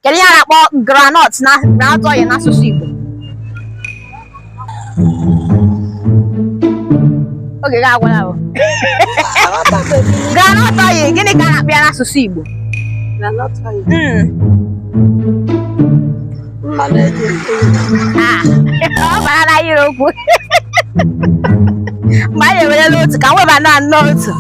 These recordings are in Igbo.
kedu ihe a na-akpọ groundnut na groundnut oil n'asụsụ Igbo oge gị agwụla bụ groundnut oil gịnị ka a na-akpọ ya n'asụsụ Igbo Mm. Ah, ọ bara na ire okwu mgbe anyị ewerela otu ka m weba na nnọọ otu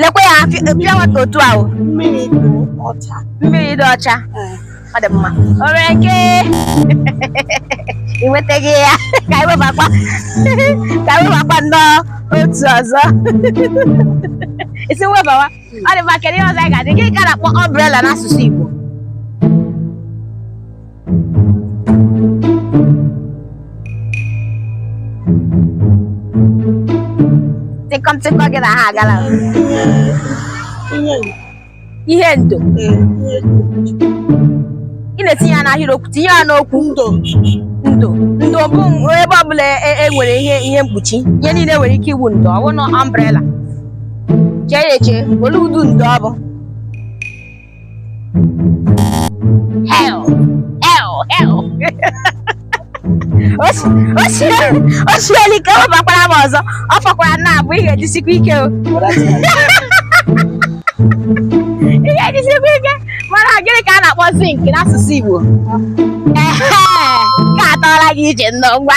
lekwe ya pure water otu ahụ mmiri dị ọcha mmiri dị ọcha ọ dị mma o nwere nke ị nwetaghị ya ka anyị webakwa ka anyị webakwa nnọọ otu ọzọ isi webawa ọ dị mma kedu ihe ọzọ anyị ga-adị gịnị ka a na-akpọ umbrella n'asụsụ Igbo tịkọm tịkọ gị na ha agala ihe ndo ị na-etinye ya n'ahịrịokwu tinye ya n'okwu ndo ndo ndo bụ ebe ọbụla e, e nwere ihe ihe mkpuchi ihe niile nwere ike ịbụ ndo ọ bụ na umbrella chee ya eche olee ụdị ndo ọ bụ Hei! Hei! Hei! o siela ike ọ bakwara m ọzọ ọ fọkwara naabọ ị ga-ejisikwa ike o ị ga-ejisikwa ike mana gịnị ka a na-akpọ zinc n'asụsụ Igbo ehe ka atọọla gị ije nnọọ ngwa